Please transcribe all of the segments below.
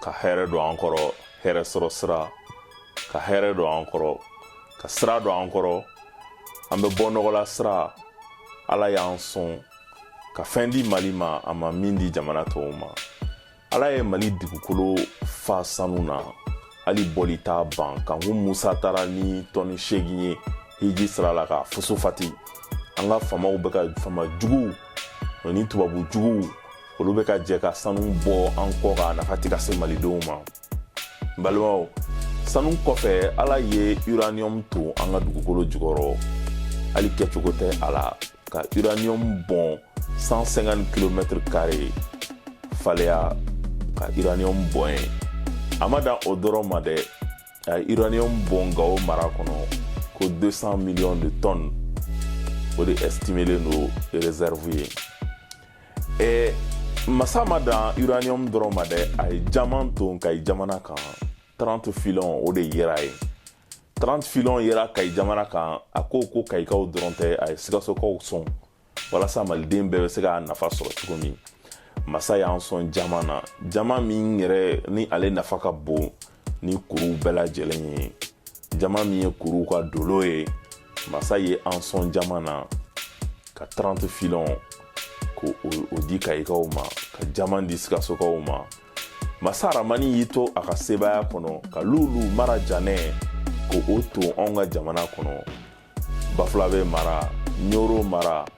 ka hɛrɛ don an kɔrɔ hɛrɛ sɔrɔ sira ka hɛrɛ don an kɔrɔ ka sira don an kɔrɔ an bɛ bɔ nɔgɔ la sira ala y'an sɔn ka fɛn di mali ma a ma min di jamana tɔw ma ala ye mali dugukolo fa sanu na hali bɔli t'a ban kanku musa taara ni tɔni seegin ye hiji sira la ka foso fati an ka faamaw bɛ ka faama juguw ni tubabu juguw olu bɛ ka jɛ ka sanu bɔ an kɔ k'a nafa tɛ ka se malidenw ma n balimaw sanu kɔfɛ ala ye uranium ton an ka dugukolo jukɔrɔ hali kɛcogo tɛ a la ka uranium bɔn 150 kilomɛtiri kare faleya ka uranium bɔn yen a ma dan o dɔrɔn ma dɛ a ye uranium bɔn gawo mara kɔnɔ ko 200 millions de tonnes o de estimelen don réserve ye eh, masa ma dan uranium dɔrɔn ma dɛ a ye jaman ton kayi jamana kan 30 filon o de yera yen 30 filon yera kayi jamana kan a ko ko kayikaw dɔrɔn tɛ a ye sikasokaw sɔn walasa maliden bɛɛ bɛ se k'a nafa sɔrɔ cogo min masa y'an sɔn jaman na jaman min yɛrɛ ni ale nafa ka bon ni kuruw bɛɛ lajɛlen ye jaman min ye kuruw ka dolo ye masa ye an sɔn jaman na ka 30 filon k'o di kayikaw ma ka jaman di sikasokaw ma masa ramani y'i to a ka sebaaya kɔnɔ ka luulu marajanɛ k'o ton anw ka jamana kɔnɔ bafulabe mara ɲoro mara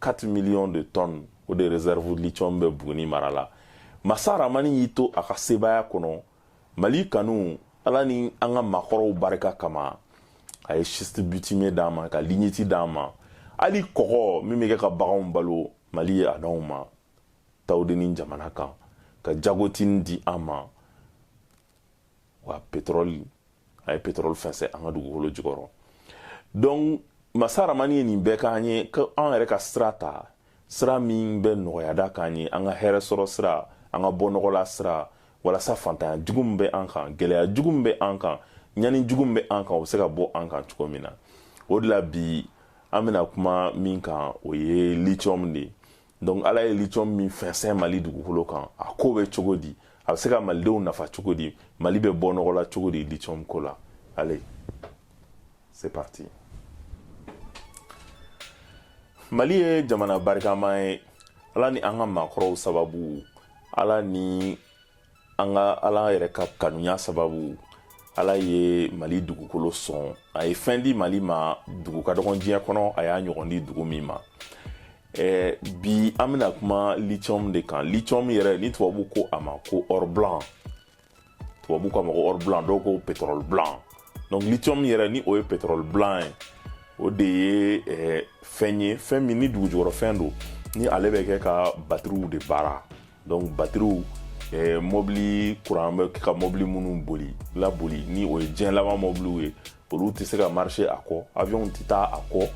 4 millions de tonnes o de réserve lithium bɛ Buguni mara la masa ramani y'i to a ka sebaaya kɔnɔ mali kanu ala ni an ka maakɔrɔw barika kama a ye schiste bitume d'an ma ka lignite d'an ma hali kɔgɔ min bɛ kɛ ka baganw balo mali ye a d'anw ma tawudeni jamana kan ka jagotini di an ma wa petrɔli a ye petrɔli fɛnsɛn an ka dugukolo jukɔrɔ donc masa ramani ye nin bɛɛ k'an ye ko an yɛrɛ ka sira ta sira min bɛ nɔgɔya da k'an ye an ka hɛrɛ sɔrɔ sira an ka bɔnɔgɔla sira walasa fantanya jugu min bɛ an kan gɛlɛya jugu min bɛ an kan ɲani jugu min bɛ an kan o bɛ se ka bɔ an kan cogo min na o de la bi an bɛna kuma min kan o ye lithium de ye donc ala ye lithium min fɛnsɛn mali dugukolo kan a ko bɛ cogo di a bɛ se ka malidenw nafa cogo di mali bɛ bɔ nɔgɔ la cogo di lithium ko la allez c'est parti mali ye jamana barikama ye ala ni an ka maakɔrɔw sababu ala ni nka ala yɛrɛ ka kanuya sababu ala ye mali dugukolo sɔn a ye fɛn di mali ma dugu ka dɔgɔ diɲɛ kɔnɔ a y'a ɲɔgɔn di dugu min ma eh, bi an bɛna kuma lithium de kan lithium yɛrɛ ni tubabu ko a ma ko or blanc tubabu k'a ma ko or blanc dɔw ko pétrole blanc donc lithium yɛrɛ ni o ye pétrole blanc ye o de ye eh, fɛn ye fɛn min ni dugujukɔrɔfɛn don ni ale bɛ kɛ ka batiriw de baara donc batiriw eh, mɔbili kuran bɛ ka mɔbili minnu boli laboli ni o ye diɲɛ laban mɔbiliw ye olu tɛ se ka marcher a kɔ avion tɛ taa a kɔ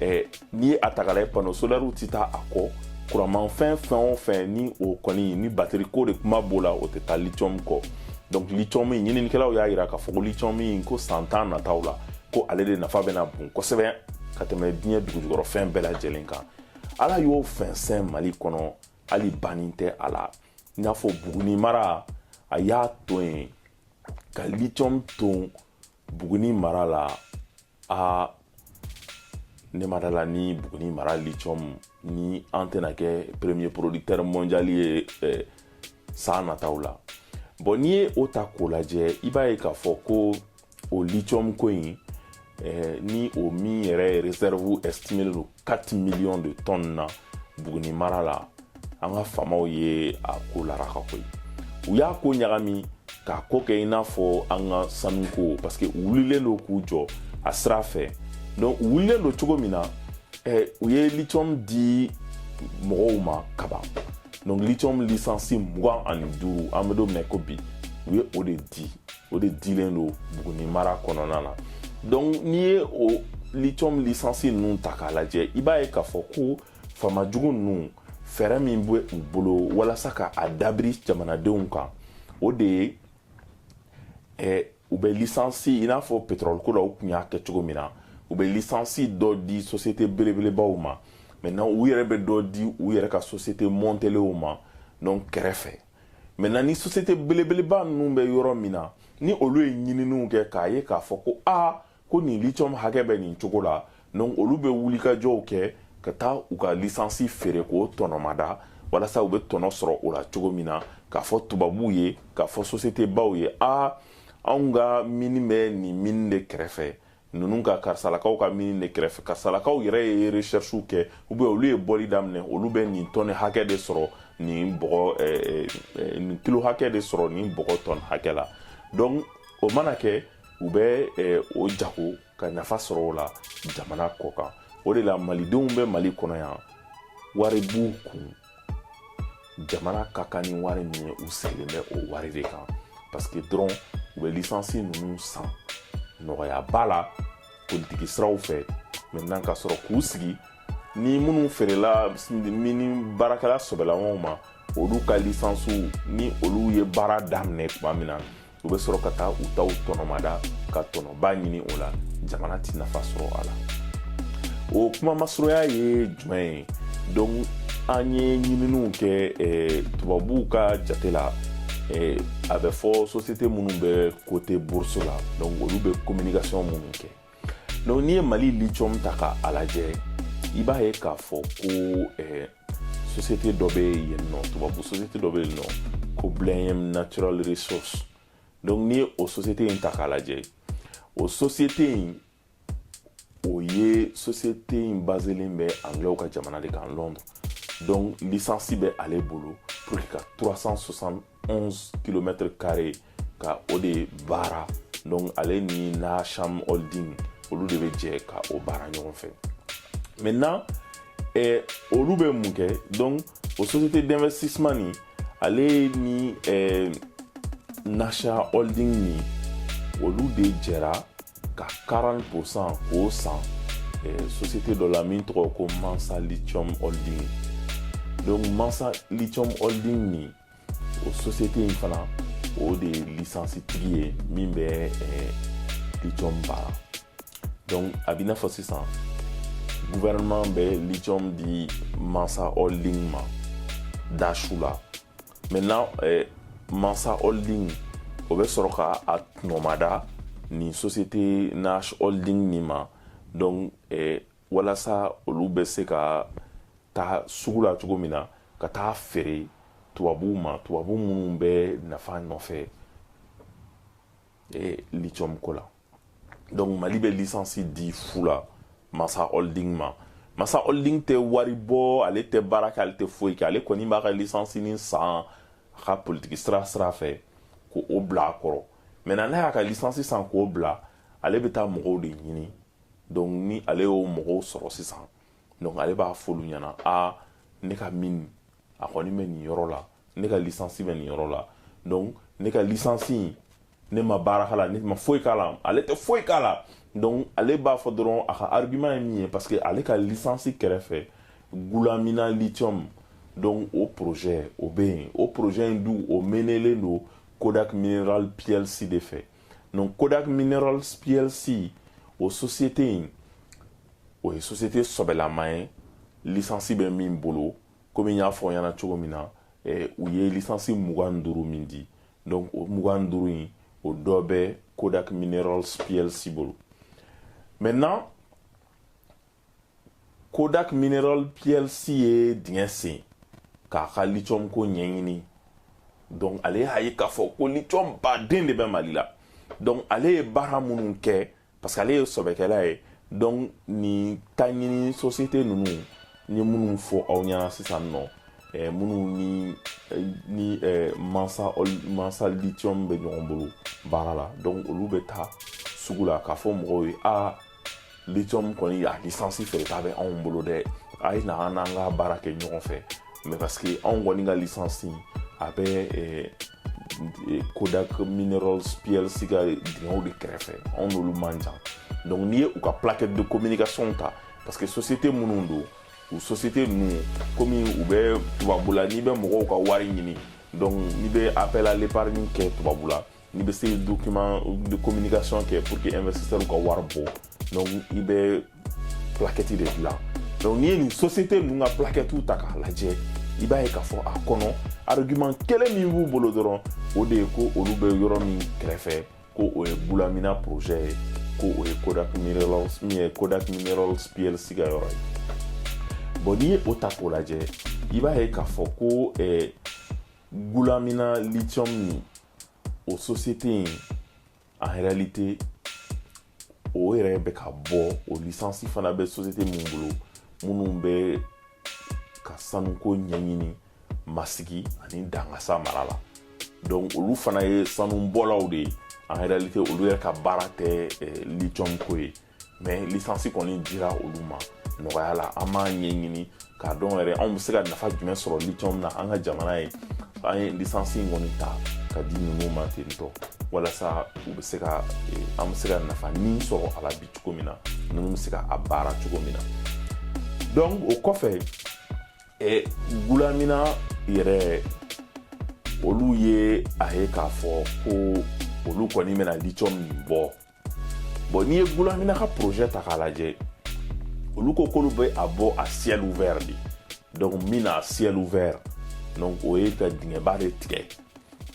eh, n'i ye a ta k'a lajɛ panneau solaire tɛ taa a kɔ kuranmanfɛn fɛn o fɛn ni o kɔni ni batiri ko de kuma b'o la o tɛ taa lithium kɔ donc lithium in ɲininikɛlaw y'a yira k'a fɔ ko lithium in ko san tan nataw la ko ale de nafa bɛna bon kosɛbɛ ka tɛmɛ diɲɛ dugujukɔrɔfɛn bɛɛ lajɛlen kan ala y'o fɛnsɛn mali kɔnɔ hali banni tɛ a la i n'a fɔ buguni mara a y'a to yen ka lithium ton buguni mara la a ne ma da a la ni buguni mara lithium ni an tɛna kɛ premier producteur mondial ye eh, san nataw la bon n'i ye o ta k'o lajɛ i b'a ye k'a fɔ ko o lithium ko in eh, ni o min yɛrɛ réserve estimélen don 4 millions de tonnes na Buguni mara la an ka faamaw ye a ko laraka ko ye u y'a ko ɲagami k'a ko kɛ i n'a fɔ an ka sanuko parce que u wulilen don k'u jɔ a sira fɛ donc u wulilen don cogo min na eh, u ye lithium di mɔgɔw ma kaban donc lithium lisansi mugan ani duuru an bɛ don min na ko bi u ye o de di o de dilen don buguni mara kɔnɔna na donc n'i ye o lithium lisansi ninnu ta k'a lajɛ i b'a ye k'a fɔ ko faama jugu ninnu fɛɛrɛ min bɛ u bolo walasa ka a dabiri jamanadenw kan o de ye eh, u bɛ lisansi i n'a fɔ petrɔliko la u tun y'a kɛ cogo min na u bɛ lisansi dɔ di sosiyete belebelebaw ma maintenant u yɛrɛ bɛ dɔ di u yɛrɛ ka sosiyete mɔntelenw ma donc kɛrɛfɛ maintenant ni société belebeleba ninnu bɛ yɔrɔ min na ni olu ye ɲininiw kɛ k'a ye k'a fɔ ko a ko nin lithium hakɛ bɛ nin cogo la donc olu bɛ wulikajɔw kɛ ka taa u ka lisansi feere k'o tɔnɔmada walasa u bɛ tɔnɔ sɔrɔ o la cogo min na k'a fɔ tubabuw ye k'a fɔ société baw ye a anw ka mini bɛ nin mini de kɛrɛfɛ ninnu ka karisalakaw ka mini de kɛrɛfɛ karisalakaw yɛrɛ ye recherchew kɛ ou bien olu ye bɔli daminɛ olu bɛ nin tɔni hakɛ de sɔrɔ nin bɔgɔ eh, eh, nin kilo hakɛ de sɔrɔ nin bɔgɔ tɔni hakɛ la donc o mana kɛ u bɛ eh, o jago ka nafa sɔrɔ o la jamana kɔ kan o de la malidenw bɛ mali kɔnɔ yan wari b'u kun jamana ka kan ni wari min ye u sigilen bɛ o wari de kan parce que dɔrɔn u bɛ lisansi ninnu san nɔgɔyaba la politiki siraw fɛ maintenant ka sɔrɔ k'u sigi ni minnu feerela nin baarakɛla sɔbɛlamanw ma olu ka lisansiw ni olu ye baara daminɛ tuma min na u bɛ sɔrɔ ka taa u taw tɔnɔmada ka tɔnɔba ɲini o la jamana ti nafa sɔrɔ a la o kuma masurunya ye jumɛn ye donc an ye ɲininiw kɛ eh, tubabuw ka jate la eh, a bɛ fɔ société minnu bɛ coté bourse la donc olu bɛ communication minnu kɛ donc n'i ye mali lithium ta ka a lajɛ i b'a ye k'a fɔ ko eh, société dɔ bɛ yen nɔ tubabu société dɔ bɛ yen nɔ ko blenheim natural resource donc n'i ye o société in ta k'a lajɛ o société in o ye société in baselen bɛ anglɛw ka jamana de kan londres donc lisansi bɛ ale bolo pour que ka 360 11 kilomɛtɛrɛ kare ka o de baara donc ale ni nashwan holding olu de bɛ jɛ ka o baara ɲɔgɔn fɛ maintenant eh, olu bɛ mun kɛ donc o société d'investissement nin ale ni eh, nashwan holding nin olu de jɛra ka 40 pourcent k'o san eh, société dɔ la min tɔgɔ ko mansa lithium holding donc mansa lithium holding nin o sosiyete in fana o de ye lisansi tigi ye min bɛ lithium baara donc a b'i n'a fɔ sisan gouvernement bɛ lithium di mansa holding ma dasu la maintenant mansa holding o bɛ sɔrɔ ka a tɔnɔmada nin société nashwan holding nin ma donc walasa olu bɛ se ka taa sugu la cogo min na ka taa feere tubabuw ma tubabu minnu bɛ nafa nɔfɛ eh, lithium ko la donc mali bɛ lisansi di fu la mansa holding ma mansa holding tɛ wari bɔ ale tɛ baara kɛ ale tɛ foyi kɛ ale kɔni b'a ka lisansi nin san a ka politiki sira sira fɛ k'o bila a kɔrɔ maintenant n'a y'a ka lisansi san k'o bila ale bɛ taa mɔgɔw de ɲini donc ni ale y'o mɔgɔw sɔrɔ sisan donc ale b'a f'olu ɲɛna a ne ka mine a kɔni bɛ nin yɔrɔ la ne ka lisansi bɛ nin yɔrɔ la donc ne ka lisansi in ne ma baara k'a la ne ma foyi k'a la ale tɛ foyi k'a la donc ale b'a fɔ dɔrɔn a ka argument ye min ye parce que ale ka lisansi kɛrɛfɛ goulamina lithium donc o projet o bɛ yen o projet in dun o menelen don kodal mineral plc de fɛ Donc Kodak Minerals PLC o société in o ye société sɔbɛlama ye lisansi bɛ min bolo komi n y'a fɔ ɲɛna cogo min na eh, u ye lisansi mugan ni duuru min di donc o mugan ni duuru in o dɔ bɛ Kodak Minerals PLC bolo maintenant kodak mineral plc ye dingɛ sen k'a ka lithium ko ɲɛɲini donc ale y'a ye k'a fɔ ko lithium ba dɔ de bɛ mali la donc ale ye baara minnu kɛ parce que ale ye sɔbɛkɛla ye donc nin taɲini société ninnu n ye minnu fɔ aw ɲɛna sisan nɔ eh, minnu ni eh, ni eh, mansa mansa lithium bɛ ɲɔgɔn bolo baara la donc olu bɛ taa sugu la k'a fɔ mɔgɔw ye aa lithium kɔni a lisansi feereta bɛ anw bolo dɛ a ye na an n'an ka baara kɛ ɲɔgɔn fɛ mais parce que anw kɔni ka lisansi a bɛ eh, eh, kodak minerals plc ka dingɛw de kɛrɛfɛ anw n'olu man jan donc n'i ye u ka plaquette de communication ta parce que société minnu don u société ninnu komi u bɛ tubabula n'i bɛ mɔgɔw ka wari ɲini donc n'i bɛ appel à l'épargne kɛ tubabula n'i bɛ se document de communication kɛ pour que investisseur ka wari bɔ donc i bɛ plaquette de dilan donc n'i ye nin société ninnu ka plaquettes ta k'a lajɛ i b'a ye k'a fɔ a kɔnɔ argument kelen min b'u bolo dɔrɔn o de ye ko olu bɛ yɔrɔ min kɛrɛfɛ ko o ye gulamina projet ye ko o ye kodak minerals min ye kodak minerals plc ka yɔrɔ ye bon n'i ye o ta k'o lajɛ i b'a ye k'a fɔ ko eh, gulamina lithium nin o sosiyete in en réalité o yɛrɛ bɛ ka bɔ o lisansi fana bɛ sosiyete min bolo minnu bɛ ka sanuko ɲɛɲini masigi ani dangasa mara la donc olu fana ye sanubɔlaw de ye en réalité olu yɛrɛ ka baara tɛ eh, lithium ko ye mɛ lisansi kɔni dira olu ma nɔgɔya la an m'a ɲɛɲini k'a dɔn yɛrɛ anw bɛ se ka nafa jumɛn sɔrɔ litiyɔmu na an ka jamana ye an ye lisansi in kɔni ta k'a di ninnu ma ten tɔ walasa u bɛ se ka an bɛ se ka nafa nin sɔrɔ a la bi cogo min na ninnu bɛ se ka a baara cogo min na donc o kɔfɛ ɛ gulamina yɛrɛ olu ye a ye k'a fɔ ko olu kɔni bɛna litiyɔmu bɔ Bon n'i ye Gulamina ka projet ta k'a lajɛ olu ko k'olu bɛ a bɔ à ciel ouvert de donc mine à ciel ouvert donc o ye ka dingɛba de tigɛ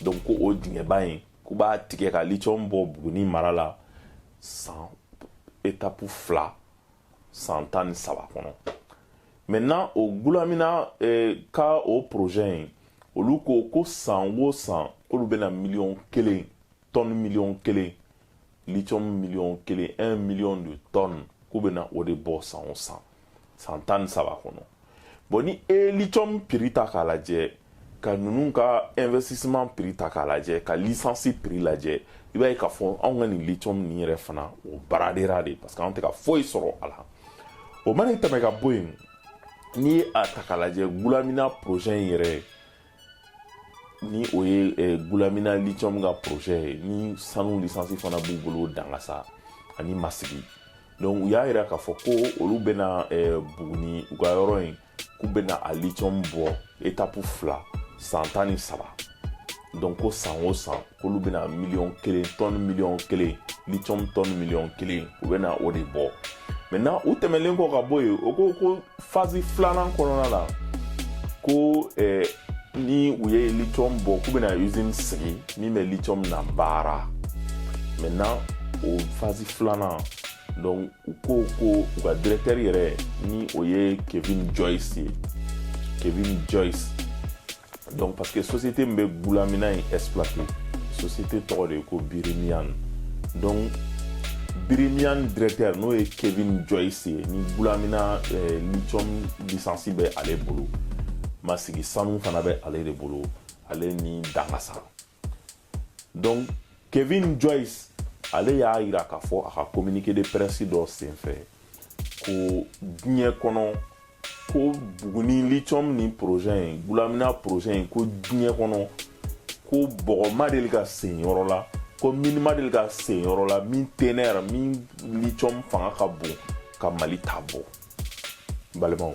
donc ko o dingɛba in k'u b'a tigɛ ka lithium bɔ Buguni mara la san etapu fila san tan ni saba kɔnɔ maintenant o Gulamina eh, ka o projet in olu ko ko san o san k'olu bɛna miliyɔn kelen tɔni miliyɔn kelen litiyɔmu miliyɔn kelen un million de tonnes k'u bɛna o de bɔ san o san san tan ni saba kɔnɔ bɔn ni e ye litiyɔmu piri ta k'a lajɛ ka ninnu ka investissement piri ta k'a lajɛ ka lisansi piri lajɛ i b'a ye k'a fɔ anw ka nin litiyɔmu nin yɛrɛ fana o baradera de parce que anw tɛ ka foyi sɔrɔ a la o mana tɛmɛ ka bɔ yen n'i ye a ta k'a lajɛ gulamina projet in yɛrɛ ni o ye eh, gulamina lithium ka projet ye ni sanu lisansi fana b'u bolo dangasa ani masigi donc u y'a yira k'a fɔ ko olu bɛna eh, buguni u ka yɔrɔ in k'u bɛna a lithium bɔ etapu fila san tan ni saba donc ko san o san k'olu bɛna miliyɔn kelen tɔni miliyɔn kelen litiyɔm tɔni miliyɔn kelen u bɛna o de bɔ maintenant u tɛmɛnlen kɔ ka bɔ yen o ko ko fazi filanan kɔnɔna la ko eh, ni u ye litiyɔm bɔ k'u bɛna usine sigi min bɛ litiyɔm nabaara maintenant o fazi filanan donc u ko ko u ka directeur yɛrɛ ni o ye kevin joyce ye kevin joyce donc parce que société min bɛ gulamina in exploité société tɔgɔ de ye ko birimiyan donc birimiyan directeur n'o ye kevin joyce ye ni gulamina eh, lithium licence bɛ ale bolo masigi sanu fana bɛ ale de bolo ale ni dangasa donc kevin joyce ale y'a yira k'a fɔ a ka communiqué de presse dɔ senfɛ ko diɲɛ kɔnɔ ko buguni lithium ni projet in gulamina projet in ko diɲɛ kɔnɔ ko bɔgɔ ma deli ka sen yɔrɔ la ko mine ma deli ka sen yɔrɔ la min teneur min lithium fanga ka bon ka mali ta bɔ balimaw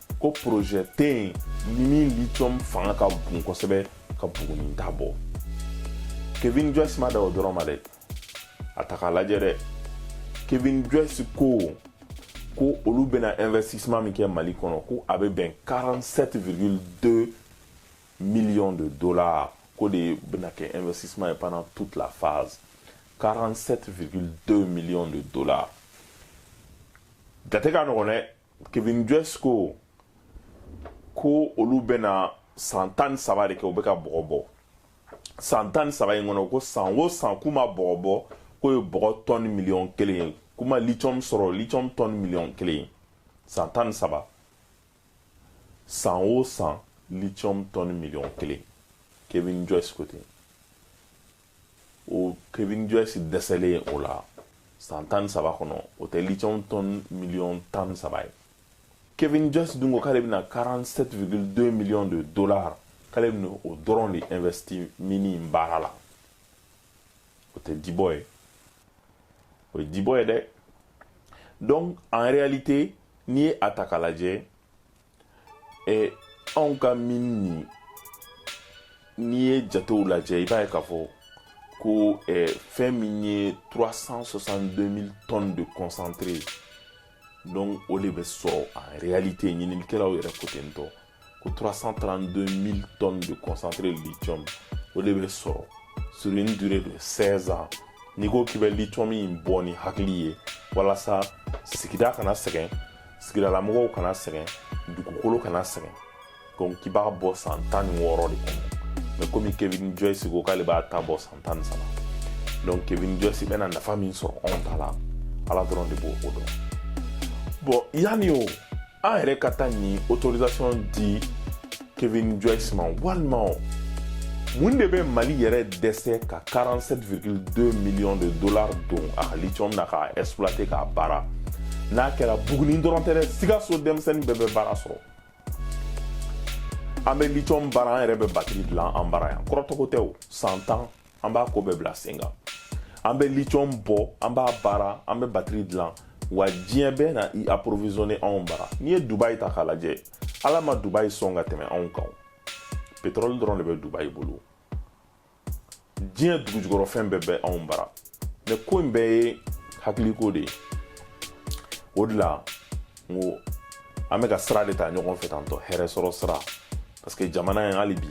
ko porozɛ tɛ yen ni min litiyɔmu fanga ka bon kosɛbɛ ka buguni ta bɔ kevin joyce ma dan o dɔrɔn ma dɛ a ta k'a lajɛ dɛ kevin joyce ko ko olu bɛna investissement min kɛ mali kɔnɔ ko a bɛ bɛn 47,2 millions de dollars k'o de bɛna kɛ investissement ye pendant toute la phase 47,2 millions de dollars jate ka nɔgɔn dɛ kevin joyce ko ko olu bɛna san tan ni saba de kɛ u bɛ ka bɔgɔ bɔ san tan ni saba in kɔnɔ ko san o san k'u ma bɔgɔ bɔ k'o ye bɔgɔ tɔni miliyɔn kelen ye k'u ma lithium sɔrɔ lithium tɔni miliyɔn kelen ye san tan ni saba san o san lithium tɔni miliyɔn kelen kevin joyce ko ten o kevin joyce dɛsɛlen o la san tan ni saba kɔnɔ o tɛ lithium tɔn miliyɔn tan ni saba ye kevin joyce dun ko k'ale bɛna 47,2 millions de dollars k'ale bɛna o dɔrɔn de investi mini in baara la o tɛ dibɔ ye o ye dibɔ ye dɛ donc en réalité n'i ye a ta k'a lajɛ Ee anw ka mini in n'i ye jatew lajɛ i b'a ye k'a fɔ ko eh, fɛn min ye 362000 tonnes de concentré donc o de bɛ sɔrɔ en réalité ɲininikɛlaw yɛrɛ ko ten tɔ ko 332000 tonnes de concentré lithium o de bɛ sɔrɔ sur une durée de 16 ans n'i ko k'i bɛ lithium in bɔ ni hakili ye walasa sigida kana sɛgɛn sigidalamɔgɔw kana sɛgɛn dugukolo kana sɛgɛn donc k'i b'a bɔ san tan ni wɔɔrɔ de kɔnɔ mɛ komi kevin joyce ko k'ale b'a ta bɔ san tan ni saba donc kevin joyce bɛna nafa min sɔrɔ anw ta la ala dɔrɔn de b'o dɔn bon yanni o an yɛrɛ ka taa nin autorisation di kevin joyce ma walima o mun de bɛ mali yɛrɛ dɛsɛ ka 47,2 millions de dollars don a ka lithium na k'a exploiter k'a baara n'a kɛra buguni dɔrɔn tɛ dɛ sikaso denmisɛnnin bɛɛ bɛ baara sɔrɔ an bɛ lithium baara an yɛrɛ bɛ batiri dilan an bara yan kɔrɔtɔko tɛ o san tan an b'a ko bɛɛ bila sen kan an bɛ lithium bɔ an b'a baara an bɛ batiri dilan wa diɲɛ bɛɛ na i approvisionner anw bara n'i ye dubai ta k'a lajɛ ala ma dubayi sɔn ka tɛmɛ anw kan petrɔli dɔrɔn de bɛ dubayi bolo diɲɛ dugujukɔrɔ fɛn bɛɛ bɛ anw bara mɛ ko in bɛɛ ye hakiliko de ye o de la n ko an bɛ ka sira de ta ɲɔgɔn fɛ tantɔ hɛrɛ sɔrɔ sira parce que jamana in hali bi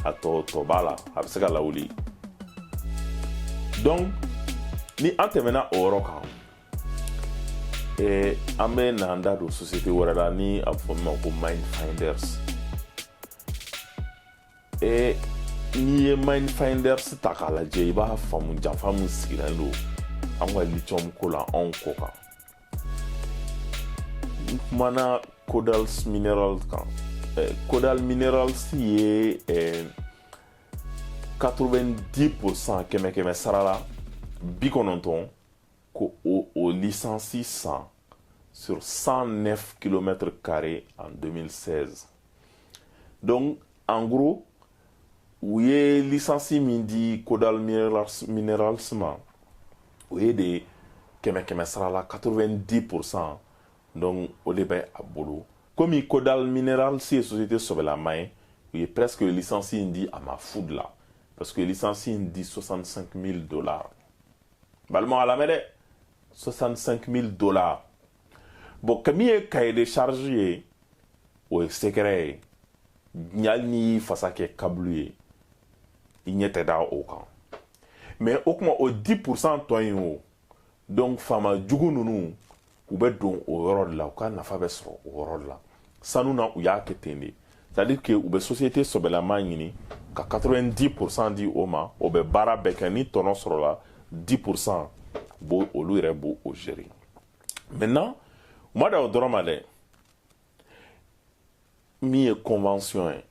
a tɔ tɔ b'a la a bɛ se ka lawuli donc ni an tɛmɛna o yɔrɔ kan Ee an bɛ na da don société wɛrɛ la ni a fɔ min ma ko minefinders ee n'i ye minefinders ta k'a lajɛ i b'a faamu janfa min sigilen don an ka lithium ko la anw kɔ kan n tun kumana kodal min kan kodal minerals ye 90 pour cent kɛmɛ kɛmɛ sara la bi kɔnɔntɔn ko o o lisansi san sur 109 kilomɛtiri kare en 2016 donc en gros u ye lisansi min di kodal minerals, minerals ma o ye de kɛmɛ kɛmɛ sara la 90 pourcent donc o de bɛ a bolo komi kodal minerals ye société sɔbɛlama ye u ye presque lisansi in di a ma fu de la parce que lisansi in di 65 000 dollars balima a lamɛn dɛ 65 000 dollars bon ka min ye cahier de charge ye o ye secret ye hali n'i y'i fasa kɛ kabulu ye i ɲɛ tɛ da o kan mais o tuma o 10 pourcent tɔ in o donc faama jugu ninnu u bɛ don o yɔrɔ de la u ka nafa bɛ sɔrɔ o yɔrɔ de la sanu na u y'a kɛ ten de c'est à dire que u bɛ société sɔbɛlama ɲini ka 90 pourcent di o ma o bɛ baara bɛɛ kɛ ni tɔnɔ sɔrɔla 10 pourcent b'o olu yɛrɛ b'o gérer maintenant u ma dan o dɔrɔn ma dɛ min ye convention ye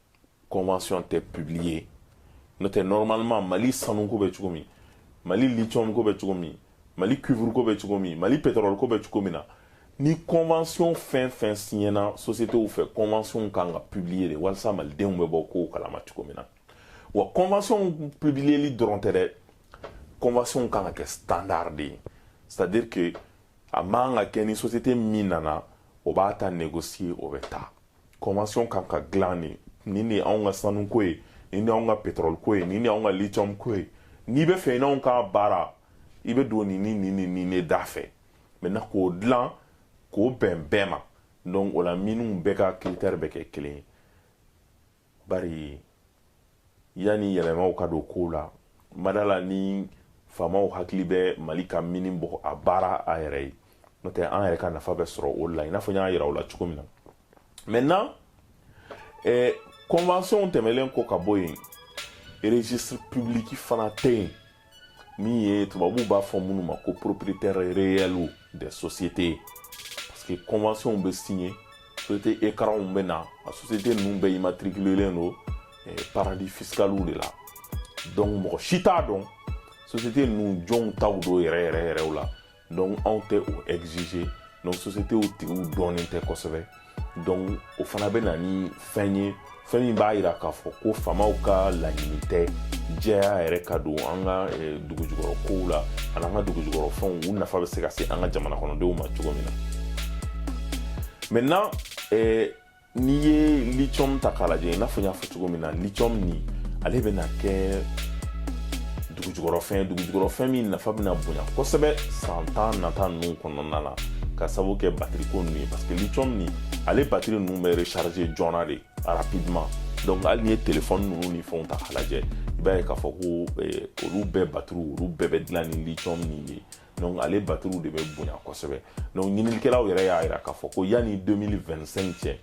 convention tɛ publier n'o tɛ normalement mali sanuko bɛ cogo min mali lithium ko bɛ cogo min mali cuivre ko bɛ cogo min mali pétrole ko bɛ cogo min na ni convention fɛn fɛn siɲɛna sociétéw fɛ convention kan ka publier de walasa malidenw bɛ bɔ kow kalama cogo min na wa convention publierli dɔrɔn tɛ dɛ convention kan ka kɛ standard de ye c'est à dire que a man ka kɛ ni société min nana o b'a ta négocier o bɛ taa convention kan ka dilan de nin ye anw ka sanuko ye nin ye anw ka pétrole ko ye nin ye anw ka lithium ko ye n'i b'a fɛ i n'anw ka baara i bɛ don nin ni nin ni nin de da fɛ maintenant k'o dilan k'o bɛn bɛɛ ma donc o la miniw bɛɛ ka critère bɛ kɛ kelen ye bari yanni yɛlɛmaw ka don kow la n ma da a la ni faamaw hakili bɛ mali ka mini bɔ a baara a yɛrɛ ye n'o tɛ an yɛrɛ ka nafa bɛ sɔrɔ o la i n'a fɔ n y'a yira aw la cogo min na maintenant eh, convention tɛmɛlen kɔ k'a bɔ yen registre public fana tɛ yen min ye tubabuw b'a fɔ minnu ma ko propriétaire réel des sociétés parce que convention bɛ signer société écranw bɛ na a société ninnu bɛɛ immatriculelen don eh, paradis fiscaliw de la donc mɔgɔ si t'a dɔn société ninnu jɔnw taw don yɛrɛ yɛrɛ yɛrɛw la donc anw tɛ o exiger donc sociétéw tigiw dɔnnen tɛ kosɛbɛ donc o fana bɛ na ni fɛn ye fɛn min b'a yira k'a fɔ ko faamaw ka laɲini tɛ jɛya yɛrɛ ka don an ka eh, dugujukɔrɔ kow la ani an ka dugujukɔrɔ fɛnw u nafa bɛ se ka se an ka jamana kɔnɔdenw ma cogo min na maintenant eh, N'i ye lithium ta k'a lajɛ i n'a fɔ n y'a fɔ cogo min na lithium nin ale bɛna kɛ dugujukɔrɔfɛn dugujukɔrɔfɛn min nafa bɛna bonya kosɛbɛ san tan nata ninnu kɔnɔna la ka sabu kɛ batiri ko ninnu ye parce que lithium nin ale batiri ninnu bɛ recharger joona de rapidement donc hali n'i ye telefɔni ninnu ni fɛnw ta k'a lajɛ i b'a ye k'a fɔ ko eh, olu bɛɛ batiriw olu bɛɛ bɛ dilan ni lithium nin ye donc ale batiriw de bɛ bonya kosɛbɛ donc ɲininikɛlaw yɛrɛ y'a yira k'a fɔ ko yanni 2025 cɛ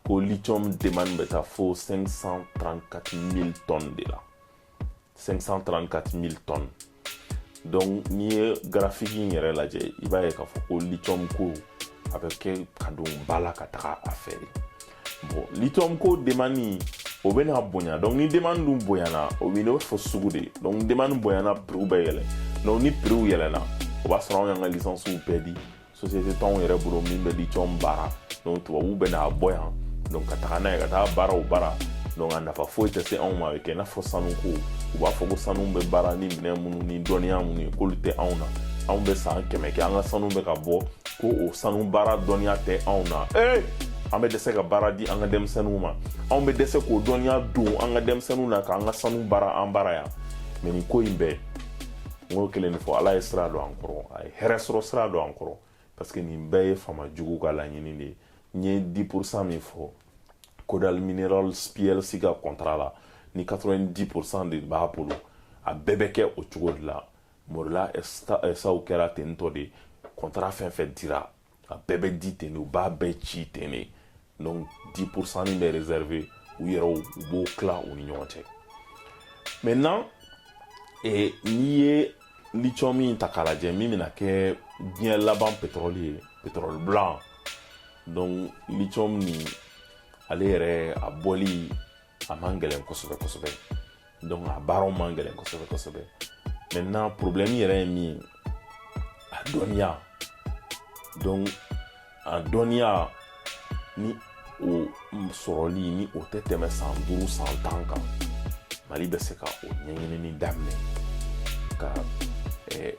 ko lithium demande bɛ taa fo 534000 tonnes de la 534000 tonnes donc n'i ye garafiki in yɛrɛ lajɛ i b'a ye k'a fɔ ko lithium ko a bɛ kɛ ka don ba la ka taga a fɛ de bon lithium ko demande o bɛ na bonya donc ni demande dun bonyana o bɛ n'o fɔ sugu de donc demande bonyana prix bɛ yɛlɛ donc ni prix yɛlɛna o b'a sɔrɔ anw y'an ka licence bɛɛ di société t'anw yɛrɛ bolo min bɛ lithium baara donc tubabuw bɛ n'a bɔ yan donc ka taga n'a ye ka taa baara u bara donc a nafa foyi tɛ se anw ma a bɛ kɛ i n'a fɔ sanuko u b'a fɔ ko sanu bɛ baara ni minɛn minnu ni dɔnniya minnu ye k'olu tɛ anw na anw bɛ san kɛmɛ kɛ an ka sanu bɛ ka bɔ ko o sanu baara dɔnniya tɛ anw na ee an bɛ dɛsɛ ka baara di an ka denmisɛnninw ma anw bɛ dɛsɛ k'o dɔnniya don an ka denmisɛnninw na k'an ka sanu baara an bara yan mais nin ko in bɛɛ n k'o kelen de fɔ ala ye sira don an kɔrɔ a ye hɛrɛ sɔrɔ sira don an kɔrɔ parce que nin bɛɛ ye faama jugu ka laɲini de ye n ye 10 pourcent min fɔ kodal mineral plc ka kɔntara la ni 90 pourcent de b'a bolo a bɛɛ bɛ kɛ o cogo de la morila SAw kɛra ten tɔ de kɔntara fɛn fɛn dira a bɛɛ bɛ di ten de u b'a bɛɛ ci ten de donc 10 pourcent min bɛ réservé u yɛrɛw u b'o tila u ni ɲɔgɔn cɛ maintenant eh, n'i ye lithium min ta k'a lajɛ min bɛna kɛ diɲɛ laban pétrole ye pétrole blanc donc lithium nin ale yɛrɛ a bɔli a man gɛlɛn kosɛbɛ kosɛbɛ donc a baaraw man gɛlɛn kosɛbɛ kosɛbɛ maintenant problème yɛrɛ ye min ye a dɔnniya donc a dɔnniya ni o sɔrɔli ni o tɛ tɛmɛ san duuru san tan kan mali bɛ se ka o ɲɛɲinini daminɛ ka eh,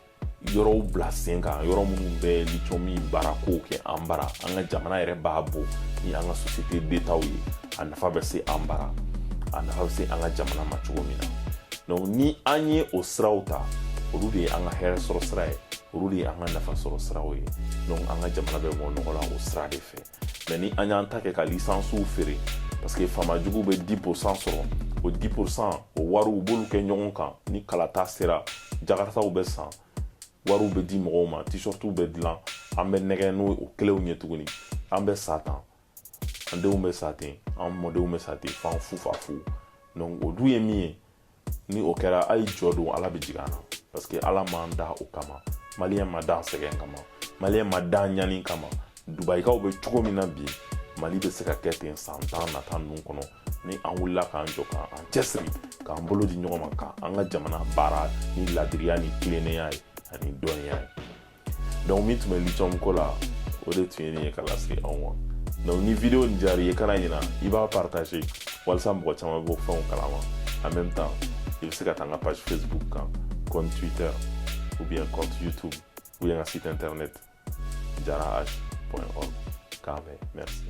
yɔrɔw bila sen kan yɔrɔ minnu bɛ lithium in baarakow kɛ an bara an ka jamana yɛrɛ b'a bɔ ni an ka société d'étatw ye a nafa bɛ se an bara a nafa bɛ se an ka jamana ma cogo min na donc ni an ye o siraw ta olu de ye an ka hɛrɛ sɔrɔ sira ye olu de ye an ka nafa sɔrɔ siraw ye donc an ka jamana bɛ bɔ nɔgɔ la o sira de fɛ mais ni an y'an ta kɛ ka lisansiw feere parce que faama jugu bɛ 10 pourcent sɔrɔ o 10 pourcent o wari u b'olu kɛ ɲɔgɔn kan ni kalata sera jakarataw bɛ san wariw bɛ di mɔgɔw ma t-shirtw bɛ dilan an bɛ nɛgɛn n'o kelenw ye tuguni an bɛ sa ten an denw bɛ sa ten an mɔdenw bɛ sa ten f'an fufafu donc o dun ye min ye ni o kɛra a ye jɔ don ala bɛ jigin an na parce que ala m'an da o kama maliyɛn ma dan sɛgɛn kama maliyɛn ma dan ɲani kama dubayikaw bɛ cogo min na bi mali bɛ se ka kɛ ten san tan nata ninnu kɔnɔ ni an wulila k'an jɔ k'an cɛsiri k'an bolo di ɲɔgɔn ma k'an ka jamana baara ni ladiriya ni tilennenya ye ani dɔnniya ye donc min tun bɛ lithium ko la o de tun ye nin ye ka lase aw ma donc ni video nin diyar'i ye kana ɲina i b'a partage walisa mɔgɔ caman b'o fɛnw kalama en même temps i bɛ se ka taa n ka page facebook kan compte twitter ou bien compte youtube ou bien ka site internet jara h org k'a mɛn merci